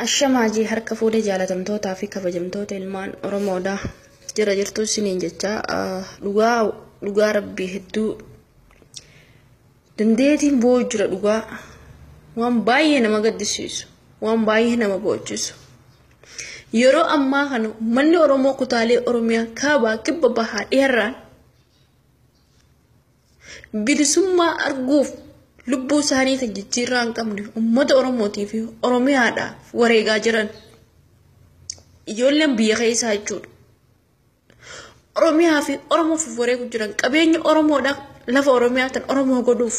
Ashamaa jee harka fuudhee jaalatamtootaa fi kabajamtoota ilmaan Oromoodha. Jira jirtuu isiniin jecha dhugaa dhugaa rabbii hedduu dandeetiin boo'u jira dhugaa waan baay'ee nama gaddisiisu waan baay'ee nama boochisu. Yeroo ammaa kana uummanni Oromoo kutaalee Oromiyaa kaabaa kibba bahaa dheerraan bilisummaa arguuf lubbuu isaanii tan jijjiirraa hin qabne uummata Oromootii fi Oromiyaadhaaf wareegaa jiran ijoolleen biyya keessaa jechuudha. Oromiyaa fi Oromoof wareegu jiran qabeenya Oromoodha lafa Oromiyaa tan Oromoo godhuuf.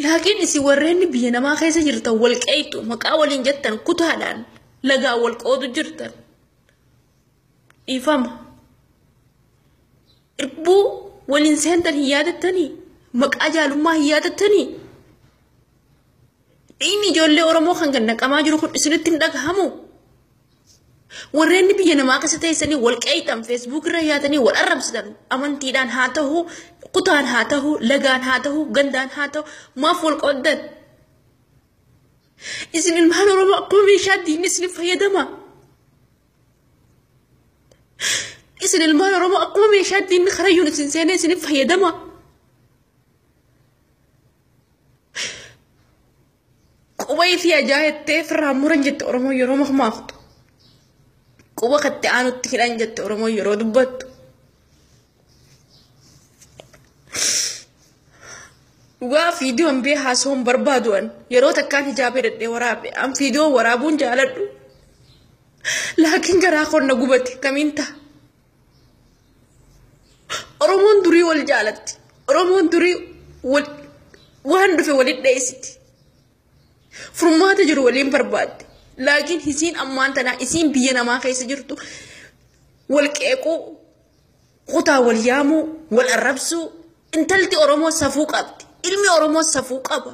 Laakiin isin warreen biyya namaa keessa jirtan wal qeeyxu maqaa waliin jettan kutaadhaan lagaa wal qoodu jirtan. Dhiifama. Irbuu waliin seentan hin yaadattanii? Maqaa jaalummaa hin yaadattanii? Dhiigni ijoollee Oromoo kan gad naqamaa jiru kun isinitti hin dhagahamu. Warreen biyya namaa keessa teessanii wal qeeyxan feesbuuk irra yaatanii wal arrabsitan amantiidhaan haa ta'u, kutaan haa ta'u, lagaan haa ta'u, gandaan haa ta'u maaf wal qooddan? Isin ilmaan Oromoo akkuma meeshaa diinni isin fayyadama. Isin ilmaan Oromoo akkuma meeshaa diinni karayyuun isin seenee isin fayyadama. Quba isii ajaa jettee firraa muran jette Oromoo yeroo makmaaktu. Quba katti aanutti hidhan jette Oromoo yeroo dubbattu. Dhugaa fiidiyoon bee haasawuun barbaadu'an yeroo takkaan hijaabee dadhee waraabe an fiidiyoo waraabuun jaaladhu. Laakiin garaa konna gubate kamiin ta'a? Oromoon durii wal jaalatti. Oromoon durii wal waan dhufe waliin dheessiti. Furmaata jiru waliin barbaadde. Laakiin isiin ammaan tanaa isiin biyya namaa keessa jirtu wal qeequu, kutaa wal yaamuu, wal arrabsuu. Intalti Oromoo safuu qabdi. Ilmi Oromoo safuu qaba.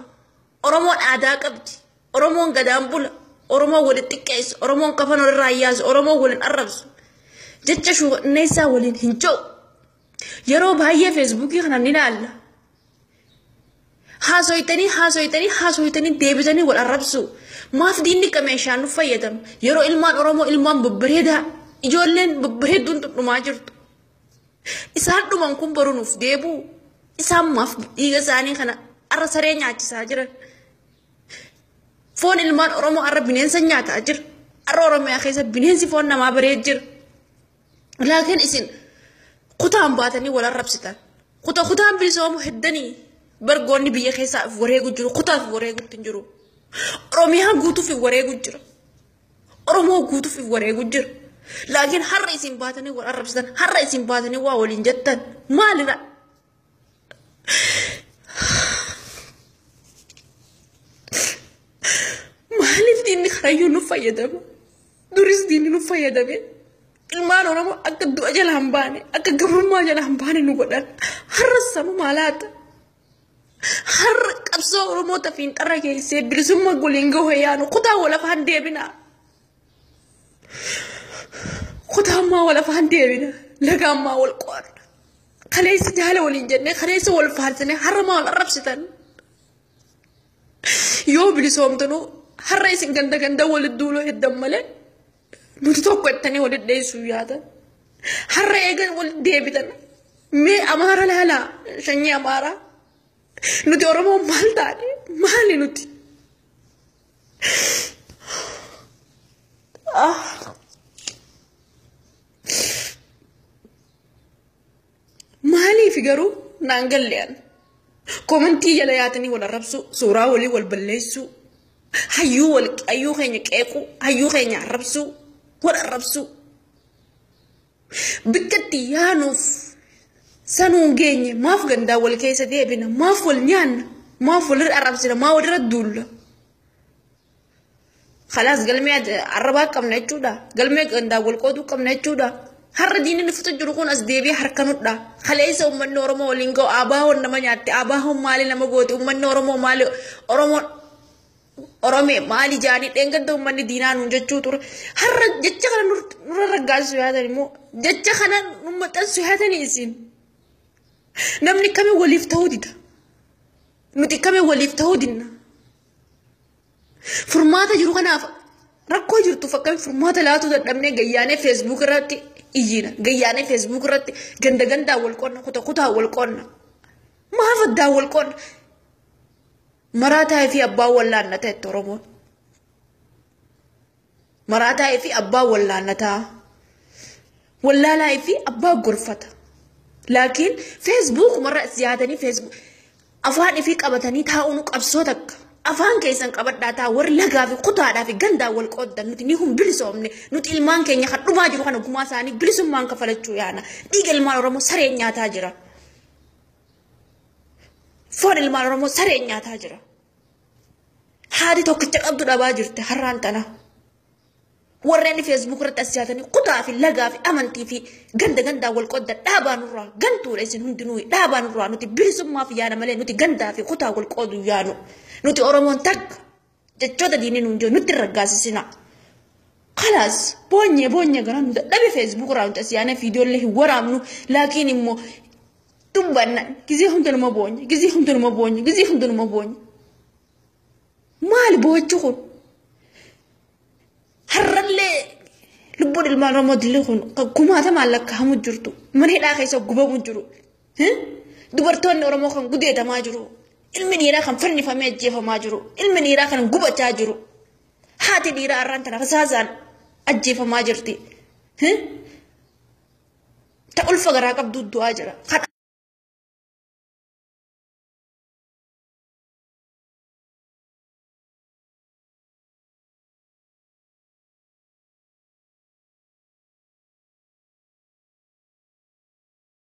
Oromoon aadaa qabdi. Oromoon gadaan bula. Oromoon waliin xiqqeessu. Oromoon kafan walirraa yaasu. Oromoon waliin arrabsu. Jecha shuukanneessaa waliin hin jiru. Yeroo baay'ee feesbuukii kana ni ilaalla. Haasoytanii haasoytanii haasoytanii deebitanii wal arrabsu. Maaf diinni akka meeshaan nu fayyadamu. Yeroo ilmaan Oromoo ilmaan babbareedaa ijoolleen babbareedduun dhumaa jirtu. Isaan dhuman kun boru nuuf deebi'u. Isaan maaf dhiiga isaanii kana arra saree nyaachisaa jiran. Foon ilmaan Oromoo har'a bineensa nyaataa jira. Har'a Oromiyaa keessa bineensi foon namaa baree jira. Laakiin isin kutaan baatanii wal arrabsitan. Kuta kutaan bilisoomu heddanii bargoonni biyya keessaa of wareegu jiru. Kutaaf wareegutti hin jiru. Oromiyaa guutuuf hin wareegu jira. Oromoo guutuuf hin wareegu jira. Laakiin har'a isin baatanii wal arrabsitan. Har'a isin baatanii waa waliin jettan. Maalidha? Maaliif diinni karayyuu nu fayyadama? Duris diinni nu fayyadame. Ilmaan Oromoo akka du'a jala hin baane, akka gabrummaa jala hin baane nu godhan. Har'a samu maalaata? Har'a qabsoo Oromoo tafiin xarra keessee bilisummaa goliin gahoo yaanu kutaa walafaan deebinaa. Kutaa ammaa wal afaan deebina. Laga ammaa wal qoodna. Kaleessa jaala waliin jennee kaleessa wal faarsine har'a maal arrabsitan? Yoo bilisoomtanu har'a isin ganda ganda walitti duuloo heddan malee nuti tokko jettanii walitti dheessuu yaadan. Har'a eegan walitti deebitan. Mee amaara laalaa shanyii amaaraa. Nuti Oromoo maal taane? Maali nuti? Maaliif garuu naan galle'an komantii jala yaatanii wal arrabsuu suuraa walii wal balleessuu hayyuu wal hayyuu keenya qeequu hayyuu keenya arrabsuu wal arrabsuu Bakka itti yaanuuf sanuun geenye maaf gandaa wal keessa deebina maaf wal nyaanna maaf walirra arrabsina maa walirra duulla. Kalaas galmee arrabaa qabna jechuudha. Galmee gandaa wal qooduu qabna jechuudha. Har'a diinni nufuta jiru kun as deebi'ee harka nudha. Kaleessa uummanni Oromoo waliin ga'u abaahoon nama nyaatte abaahoon maali nama goote uummanni Oromoo maali Oromoon Oromee maal ijaanii dheengadda uummanni diinaa nuun jechuu ture. Har'a jecha kana nurra raggaasisu yaatan immoo jecha kana nu maxxansu yaatanii isin. Namni kami waliif ta'uu dida. Nuti kami waliif ta'uu dinna. Furmaata jiru kanaaf rakkoo jirtuuf akkamitti furmaata laatuu dadhabnee gayyaanee feesbuuk irratti iyyina. Gayyaanee feesbuuk irratti ganda gandaan wal qonna kuta kutaa wal qonna. Maaf addaan wal qonna. Maraataa fi abbaa wallaannata itti Oromoon. Maraataa fi abbaa wallaannataa. Wallaalaa fi abbaa gorfata. Laakiin feesbuuk marra siyaatanii feesbuuk afaan ifii qabatanii taa'uun qabsoo takka. Afaan keessan qabadhaa taa warri lagaa fi kutaadhaa fi gandaa wal qooddan nuti ni hun bilisoomne nuti ilmaan keenya kan dhumaa jiru kana gumaa isaanii bilisummaan kafalachuu yaana dhiiga ilmaan Oromoo sareen nyaataa jira. Foon ilmaan Oromoo sareen nyaataa jira. Haati tokkicha qabdu dhabaa jirti har'aan tana. Warreen feesbuuk irratti as yaatanii kutaa fi lagaa fi amantii fi ganda gandaan wal qodda dhaabaa nurraa gantuudha isin hundinuu dhaabaa nurraa nuti bilisummaaf yaana malee nuti gandaa fi kutaa wal qoodu yaanu nuti Oromoon takka jechoota diinni nuun jiru nutti hin raggaasisina. Kalaas boonye boonye garaa nu dadhabe feesbuuk irraa nuti asiyaanee viidiyoollee hin waraabnu laakiin immoo dubbanna gizee hunda numa boonye gizee hunda numa boonye gizee hunda numa boonye. Maali boochu kun? Har'allee lubbuun ilmaan Oromoo dilli kun kumaatamaan lakkaa'amu jirtu mana hidhaa keessa gubamu jiru Dubartoonni Oromoo kan gudeedamaa jiru. Ilmi dhiiraa kan fannifamee ajjeefamaa jiru. Ilmi dhiiraa kan gubachaa jiru. Haati dhiiraa har'aan tana fasaasaan ajjeefamaa jirti. Ta ulfa garaa qabdu du'aa jira. Kan